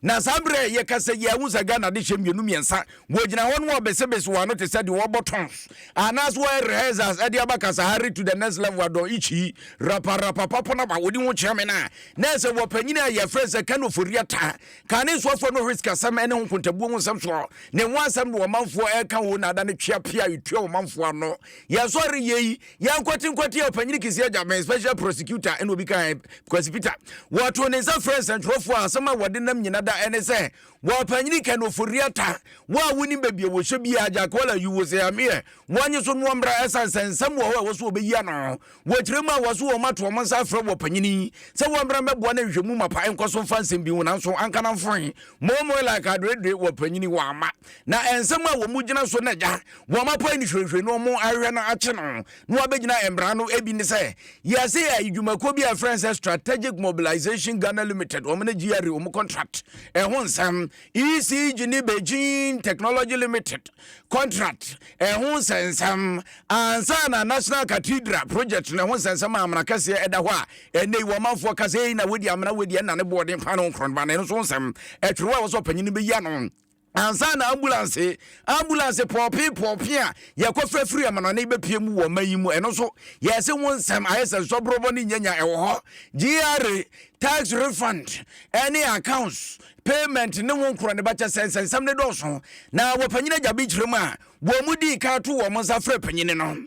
Na saa berɛ a yɛka sɛ yi a, wohu sɛ Ghana adehyeɛ mmienu mmiɛnsa wɔgyina hɔ no wɔrebesebese wɔn ano te sɛ deɛ wɔrebɔ tons anaasɛ wɔyɛ rehearsals de aba Kasahari to the next level adɔn ichi rapa rapa papo na ba wɔdi ho kyea me no a na ɛsɛ wɔ panyin a yɛfrɛ sɛ Kano Foria ta ka ne nsoafoɔ no risk asɛm ne ho nkontabuo ho nsɛm soɔ ne ho asɛm na ɔmanfoɔ ɛreka o na ada no twea pia ɛtua ɔmanfoɔ ano yɛsɔre yɛ yi Yɛnkwati nkwati a Ɔpanyin Kɛse Agya bɛn Special Prosecutor ɛna obi ka yɛn Kwasi Peter. Wɔtoo ne nsa frɛɛ nsɛntwerɛfoɔ a asɛm a wɔde nam nyina da ɛne sɛ Wɔpanyin Ken Ofori-Atta wo a wonim baabi a wɔhyɛ biara Agya Kola you was here meɛ wɔnye so noɔ mmra ɛsan sɛ nsɛm wɔ hɔ a ɛwɔ sɛ wɔbɛyi ano wɔ kyerɛ mu a wɔ so wɔn ato wɔn nsa afrɛ Wɔpanyin yi sɛ wɔmmra mmɛboa na nhwɛmu mapa nkɔ so mfa nsɛm bi ho nanso anka na mfoe momoe like adoedoe Wɔpanyin wɔama na nsɛm a wɔn gyina so na agya wɔapae no hwirehwire na wɔahwehwɛ no akye no na wɔabɛgyina mmara no. Ebi ne sɛ, yɛase yɛ adwumakuo bi a ɛfrɛ no sɛ Strategic Mobilization Ghana Limited, wɔn ne GRA wɔn contract ɛho nsɛm, ECG ne Beijing Technology Limited contract ɛho nsɛnsɛm, ansa na National Cathedral project no ɛho nsɛnsɛm a amena kɛseɛ ɛda hɔ a ɛnɛ yi wɔmanfoɔ ka sɛ ei na wodi amena wei deɛ ɛna ne boɔden paa no nkorɔnoba no ɛno nso nsɛm ɛtwerɛ a wɔsɛ ɔpanyin no bɛyi ano ansa na ambulance ambulance pɔɔpee pɔɔpee a yɛkɔfa firi amanɔne bɛpie mu wɔ ɔma yi mu ɛno nso yɛse wo nsɛm ayɛ sɛ nsɔborɔbɔ ne nyanya ɛwɔ hɔ GRA tax refund ɛne accounts payment ne wo nkorɔ ne bakyɛ sɛ nsɛnsɛm ne dɔɔso na wɔpanyini agya bi kyerɛ mu a wɔn mu dii kan to wɔn nsa frɛ panyini no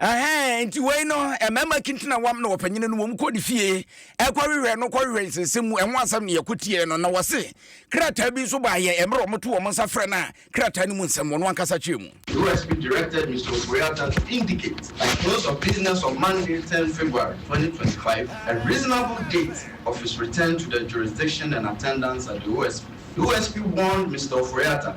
Ɛhɛn, nti wei no, mmarima kinti na wɔam na wɔpanyini no, wɔn kɔ ne fie, ɛkɔhwehwɛ no, kɔhwehwɛ nsɛnsɛm mu, ɛho asɛm na yɛkɔ tiee no, na wɔse, krataa bi nso baa yɛn, mmerɛ wɔto wɔn nsa frɛ no a, krataa no mu nsɛm, wɔn ankasa kyerɛ mu. USP directed Mr. Opoyata to indicate the close of business on Monday, ten February, twenty twenty five, a reasonable date of his return to the jurisdiction and attendance at the OSP. USP warned Mr. Opoyata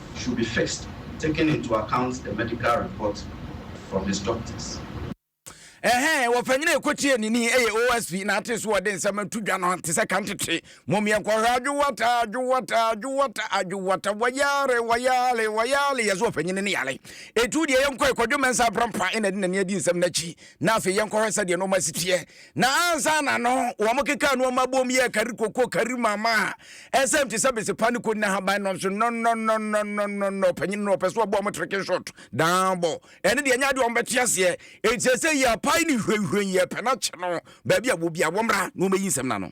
should be fixed taking into account the medical report from his doctors. Ɛhɛn, wɔ panyin a ɛkɔtie ne ni ɛyɛ OSP na ate so wɔde nsɛm ato dwa no te sɛ ka ntete. Mom yɛnkɔhwɛ adwowata, adwowata, adwowata, adwowata, wɔyare, wɔyare, wɔyare, yɛsɛ ɔpanyin no ne yare. Etu deɛ yɛnkɔ ɛkɔdwo mɛnsa abrampa ɛna de n'ani adi nsɛm no akyi. Na afei yɛnkɔhwɛ sɛdeɛ nneɛma si teɛ. Na ansaana no, wɔkekaa nnoɔma bom yɛɛ kari koko, kari mama a ɛsɛm te sɛ besepa ne koni ahaban nom so nnɔnnɔnnɔnnɔnnɔnnɔnnɔ. Ɔpanyin no ɔpɛ sɛ ɔbɔ wɔn tricking shot daa bɔ. Ɛno deɛ ɛnyɛ adeɛ a wɔbɛte aseɛ. Enti seesei yɛapae no hwɛnhwɛn, yɛrepɛ no akyɛ no. Baabi a ɛwɔ biara, wɔmmra na wɔmmɛyi nsɛm no ano.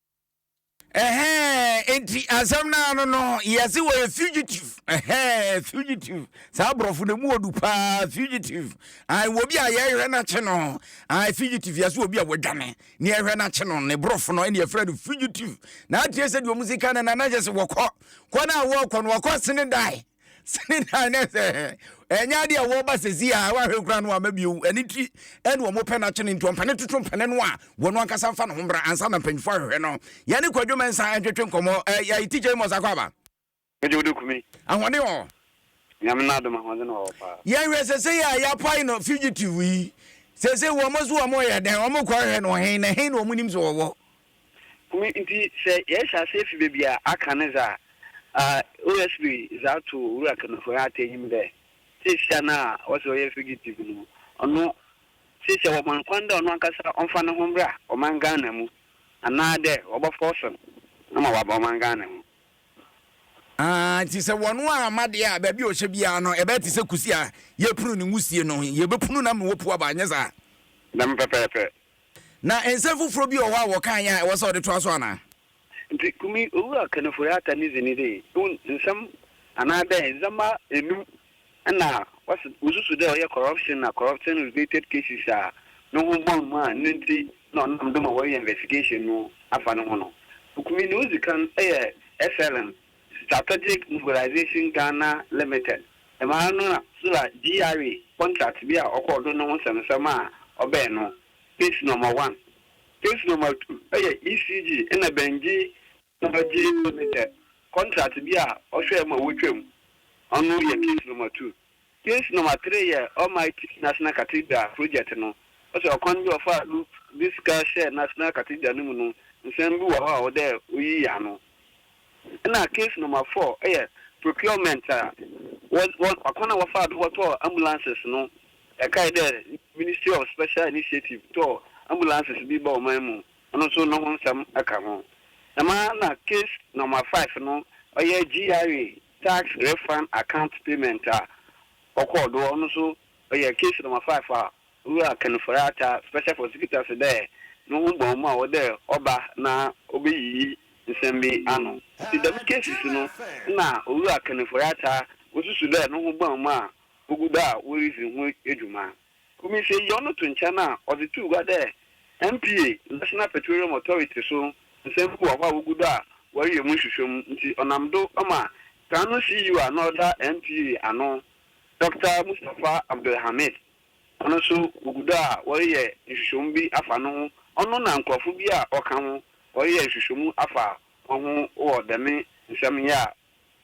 Ɛhɛɛ nti asɛm no ano no yɛse wɔyɛ fugitive ɛhɛɛ fugitive saa aborɔfo no mu ɔdu paa fugitive ae wɔ bi a yɛhwɛ no akye no ae fugitive yɛse wɔ bi a wɔadwane ne yɛhwɛ no akye no ne borɔfo no ɛne yɛfrɛ no fugitive na atie sɛ deɛ ɔmu sika no na na yɛ sɛ wɔkɔ kɔ no a wɔkɔ no wɔkɔ sene dae Sini dan ne sɛ ɛnyɛ adeɛ a wɔba sɛ si a wahwɛ kura no ama bio ɛne ti ɛne wɔn pɛ no akyene nti ɔmpɛne toto mpɛne no a wɔn ankasa mfa ne ho mbra ansa na mpanyinfoɔ ahwehwɛ no yɛne kwadwo mɛnsa ɛntwetwe nkɔmmɔ ɛyɛ tikya yi mɔ sakɔ aba Ɛgye wode kumi. Ahoɔden wɔ hɔ. Nyame na adom ahoɔden wɔ hɔ paa. Yɛnhwɛ sese yi a yapae no fugitive yi sese wɔn so wɔn yɛ dɛn wɔn kɔ hwɛ no hen na hen na wɔn nim sɛ wɔwɔ. Ɔno ntsi sɛ yɛhyɛ ase fi beebi a aka no dze a, OSB dze ato Owura Kemefo hɛn atsɛnyim dɛ siesia no a ɔse ɔyɛ fugitive no, ɔno siesia wɔma no kwan dɛ ɔno ankasa ɔmfa noho mbra ɔman Ghana mu anaa dɛ wɔbɔfɔɔso no ma ɔaba ɔman Ghana mu. Aah ntsi sɛ wɔno amma deɛ a, baabi a ɔhyɛ biara no, ɛbɛyɛ te sɛ kusi a yɛrepunu ne nwusie no, yɛbɛpunu no ama wapu aba, anyɛ saa? Dɛm pɛpɛɛpɛ. Na nsɛm foforɔ bi wɔ hɔ a wɔkaeɛ a ɛwɔ sɛ wode toa so anaa? Nti Kumi Owura Kanifori Atta ne dzin dɛ wo nsɛm anaadɛ ndzɛmba enum na wɔse wosusu dɛ ɔyɛ corruption na corruption related cases a no ho bɔn mu a no ntsi na ɔnam do ma wɔreyɛ investigation no afa no ho no. Kumi, dza odzi kan yɛ SLM. Strategic Mobilisation Ghana Limited, dɛm ara no na Sula GRA contract bi a ɔkɔr do no ho nsɛmnsɛm a ɔbɛn no, Case Number One, Case Number Two yɛ ECG na Bengyi Energy Limited contract bi a ɔhwɛɛ ma wotwaam, ɔno yɛ Case Number Two. Since number three yɛ Almighty National Cathedral project no, ɔsɛ ɔkwan bi a ɔfaa do dze sika hyɛɛ National Cathedral no mu no, nsɛm bi wɔ hɔ a ɔwɔ dɛ oyii ano. Nna case number four yɛ procurement a wɔdz akwan a wɔfaa do bɔtɔɔ ambulances no, yɛkae dɛ Ministry of Special Initiative tɔɔ ambulances bi bɔɔ ɔman mu, ɔno so no ho nsɛm ka ho. Dɛmara na case number five no ɔyɛ GRA Tax refund account payment a ɔkɔr do, ɔno so ɔyɛ case number five a Owura Ken Foreata, Special Prosecutor se dɛ no ho bɔn mu a ɔwɔ dɛ ɔba na obeyiyi nsɛm bi ano. Ntsi dɛm cases no nna Owura Ken Foreata osusu dɛ no ho bɔn mu a ogu do a woridzi ho dwuma. Komiseiɔ no to nkyɛn a ɔdze too gua dɛ NPA, National Petroleum Authority, so nsɛm bi wɔ hɔ a wogu do a wɔreyɛ mu nhwehwɛmu ntsi ɔnam do ma kan no CEO a nna ɔda NPA ano, Dɔkta Mustapha Abdulhamid, ɔno so wogu do a wɔreyɛ nhwehwɛmu bi afa no ho, ɔno na nkorɔfo bi a wɔkã ho wɔreyɛ nhwehwɛmu afa hɔnho wɔ dɛm nsɛm yi a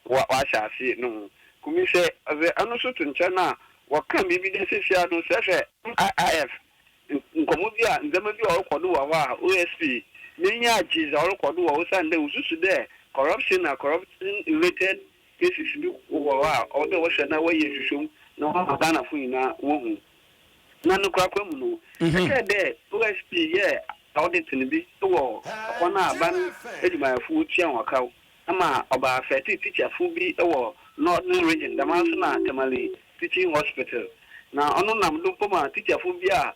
wɔahyɛ ase no ho kumi sɛ ɔdze ɔno so to nkyɛn a, wɔkã biribi dɛ seseiara no sɛ hwɛ, IIF, nkɔmbɔ bi a ndzɛmba bi a ɔrokɔ do wɔ hɔ a OSP n'enyi agye dza ɔrokɔ do wɔ osiandɛ osusu dɛ corruption na corruption related cases bi wɔ hɔ a ɔwɔ dɛ wɔhwɛ na wɔyɛ nhwehwɛmu na wɔama Ghanafo nyina wohu. Na no korakora mu no, ɛkyɛr dɛ OSP yɛɛ audit no bi wɔ kwan a aban edwumayɛfo wotua hɔn kaw Ama ɔbaa fɛti teacher fo bi wɔ northern region dɛm ara so na Tamale teaching hospital na ɔno nam do mpo ma teacher fo bi a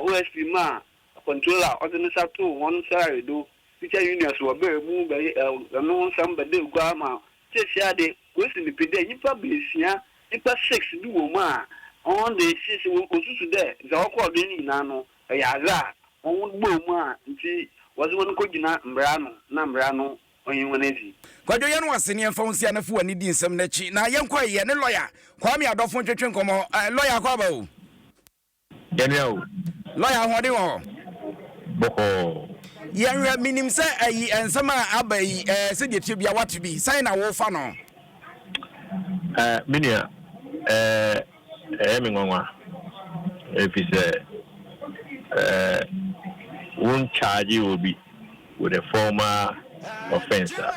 OSP maa akwantuo a ɔdze ne nsa too hɔn salary do teacher union so wɔ ber mu bɛy no ho nsɛm bɛda egua ma Seseiara de woesi no pi dɛ nyimpa beesia nyimpa six bi wɔ mu a hɔn de sesei wo wosusu dɛ dza ɔkɔr do yi ne nyina no ɔyɛ adze a hɔn bɔɔ mu a ntsi wɔdze hɔn kogyina mbra ano na mbra no ɔnyi hɔn edzi. Kwadwo yɛ no ase ne yɛmfa wo nsi ana fi w'ani di nsɛm no akyi na yɛnkɔ ɛyɛ ne lɔya Kwame Adofo ntwetwe nkɔmmɔ eh lɔya akɔ aba o. Yɛnua o. Lɔya ahoɔden wɔ hɔ. Bɔkɔɔ. Yɛnhwɛ menim sɛ ayi nsɛm a aba yi eh sɛdeɛ ɛteɛ biara woate bi sɛn na wofa no? Eh me nua eh. Ɛyɛ me nwanwa efisɛ wo nkyagye obi with a formal offence a,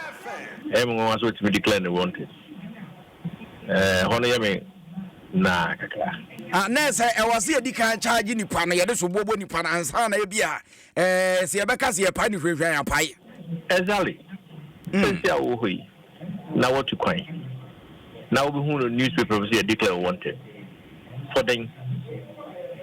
ɛyɛ me nwanwa sɛ otumi declare no wanted. Ɛhɔ no yɛ me naa kakra. Ah, na ɛsɛ ɛwɔ sɛ yɛdi kan charge nipa no, yɛde soboɔ bɔ nipa no ansa na ebi a Ɛɛ, sɛ yɛbɛka sɛ yɛpae no hwɛhwɛ a, yɛapae. Exactly. Hmm. Sɛsi a wɔwɔ hɔ yi, na wɔatu kwan. Na wobɛhu no newspaper bi sɛ yɛ declare wanted. For dɛn?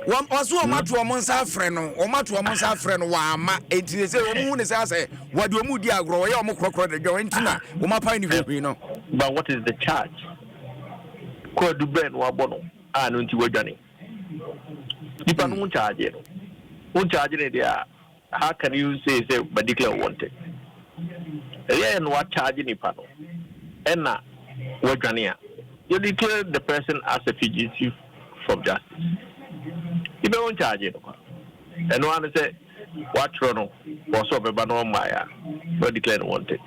Wɔso wɔn ato wɔn nsa afrɛ no, wɔn ato wɔn nsa afrɛ no, wɔama. Enti sɛ sɛ wɔn hu ne sɛ sɛ wɔde wɔn di agorɔ, wɔyɛ wɔn korɔkorɔ de dwa, enti na wɔn apae no hwehwɛ no. But what is the charge? Kwadu bɛn na wabɔ no a no nti wadwane? Nipa no ho charge no, wo charge no deɛ a, how can you say sɛ ma declare wanted? Ɛyɛ na wa charge nipa no ɛna wadwane a, you declare the person as a fugitive from justice. Nipa ho charge no kwa. Ɛno ara ne sɛ. wɔatwerɛ no wɔ sɛ ɔbɛba na ɔmmaeɛ a, na wɔdeclare no wanted.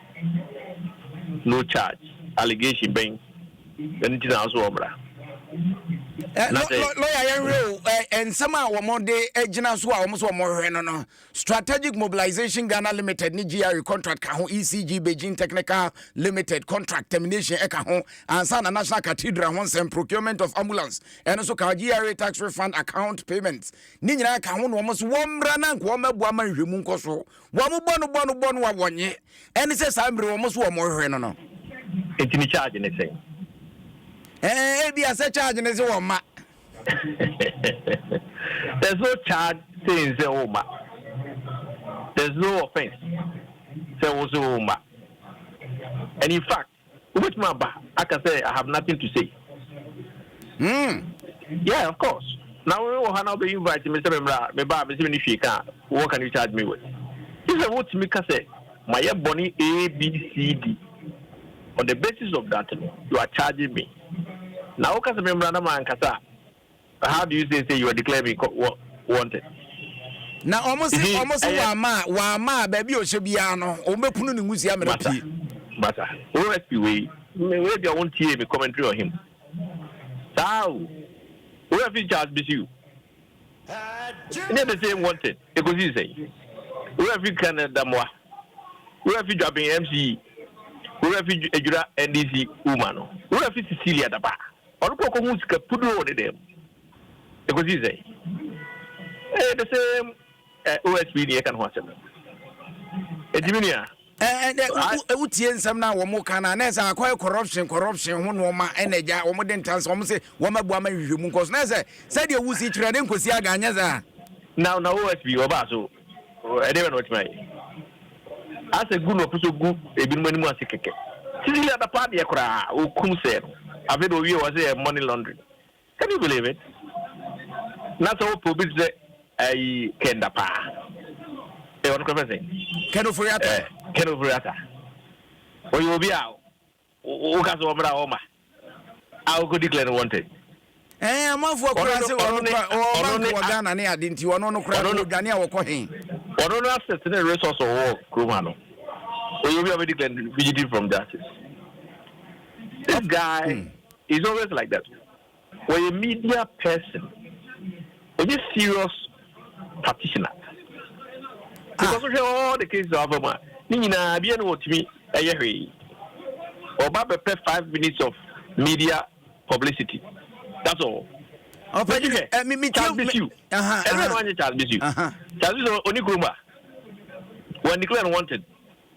No charge, allegation bɛn na nti na ɔsɛ ɔmmra? Eh, Na sɛ- lɔ- lɔya yɛnhwɛ o eh, eh, nsɛm a wɔn de eh, gyina so a wɔn sɛ wɔn hwɛ no no strategic mobilization ghana limited ne gre contract ka ho ecg beijing technical limited contract termination ɛka ho ansa na national cathedral ho nsɛm procurement of ambulance ɛno nso ka ho gre tax refund account payments ne nyinaa ka ho na wɔn nso wɔmmra na nka wɔmmɛboa ma nhwɛmu nkɔ so. Wɔn bɔ no bɔ no bɔ no a wɔnye. Ɛne sɛ saa mmere wɔn nso wɔn rehwɛ no no. Enti ne charge ne sɛn? Ɛɛ, ebia sɛ charge ne sɛ wɔmma. There's no charge saying sɛ wɔmma. There's no offense sɛ wo sɛ wɔmma. And in fact, Wobɛtumi aba aka sɛ I have nothing to say. Mm. Yeah, of course. Na wo wɔ ha na wobɛ invite me sɛ me mmra, me ba a me sɛ me ne hwee ka what can you charge me with? Gye sɛ wotumi ka sɛ mayɛ bɔne ABCD on the basis of that no you are charging me. Na woka sɛ me mmra na mankasa a How do you say say you are declaring me wanted? Na wɔn se wɔn se wama wama baabi a ɔhyɛ biara no wɔn bɛ kunu ne nwusia mmerɛ pie. Masa OSP wei wei bi a wɔn tie mi commentary on him saa o wei afi Charles Bisiu ɛnyɛ the same wanted ekosi sɛ wei afi Canada mmoa wei afi Dwaben MCE wei afi Adwira NDC woman wei afi Cecilia Daba. Ɔno kɔ kɔhuu sika puduro wɔ ne dan mu. Ɛkɔsii sɛn? Ɛyɛ the same eh, OSP ni ɛka ne ho asɛm no. Enti me nua. Ɛnɛ wotie nsɛm no a wɔn ka no a na ɛsɛ akɔyɛ corruption corruption ho nneɛma ɛna agya wɔn de ntansa wɔn se wɔn abu ama nhwehwɛmu nkɔ so na ɛsɛ sɛdeɛ wusi kyerɛ ne nkosi aga anyɛ saa. Na na OSP wɔbaa so Oh, ɛdeɛ bɛ na ɔtumi ayɛ. Asɛ gu na ɔpɛ sɛ gu ebinom anim ase kɛkɛ. Sisi yɛ bɛpa adeɛ koraa, ɔkum sɛ no. Afei de ɔwie wɔ sɛ yɛ money laundering. Can you believe it? Na sɛ wopɛ obi te sɛ ayi kɛnda paa. Ɛ ɔno kora fɛ sɛ? Ken Ofori-Atta. Ɛ Ken Ofori-Atta. Ɔyɛ obi a Woka sɛ wɔmmra hɔ ma a wokɔ declare no wanted. Ɛɛ amanfoɔ kura sɛ wɔn kura wɔn bank wɔ Ghana ne ade nti wɔn no kura wɔdwane a wɔkɔ he. Wɔn no asset ne resource wɔ kurom ha no oyɛ obi a wɔbɛ declare fugitive from justice. This guy hmm. is always like that. Wɔyɛ media person ɔnyɛ serious practitioner because wohwɛ all the cases a wafa mu a ne nyinaa bia ne wɔtumi ɛyɛ hwee ɔba bɛpɛ five minutes of media publicity that's all ɔpɛ hwɛ Charles Bisiu ɛno yɛ no wanyɛ Charles Bisiu Charles Bisiu ɔni kurom a wɔn declare no wanted.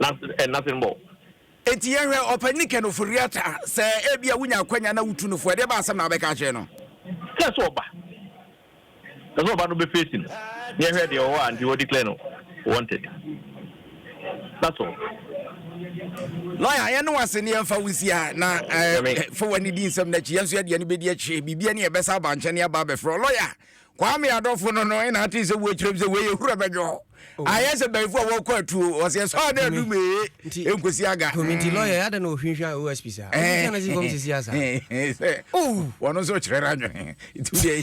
Nothing and nothing more. Enti yɛhwɛ ɔpanyin no kɛn oforiata sɛ ebia wunya akwanya na wutu no fo a, ɛdeɛ bɛn asɛm na wobɛka akyerɛ no? Sɛ sɛ ɔba. Sɛ sɛ ɔba no bɛfeesi no na yɛhwɛ deɛ ɔwɔ a nti wɔ declare no wanted. That's all. Lawyer, yɛn ne wase ne yɛn fa wo si ha na eh, fa w'ani di nsɛm no akyi. Yɛn nso yɛde yɛn bɛdi akyire. Biribi ani yɛ bɛsa aba nkyɛn ne aba abɛfrɛ. Lawyer, Kwame adɔfo no no na ate sɛ wɔkyerɛ mu sɛ wei yɛ hura bɛdwo. Oh. Ayɛ sɛ bɛyifo a wɔkɔ atuo wɔsɛ ɛsɔ a na adum ee ɛnkosi aga. Kwame nti lɔya yɛ adɛ na ɔhwinhwia OSP saa. Ɔhwinhwia na si fam sisi asa. Sɛ wɔn nso kyerɛ no adwene. Nti deɛ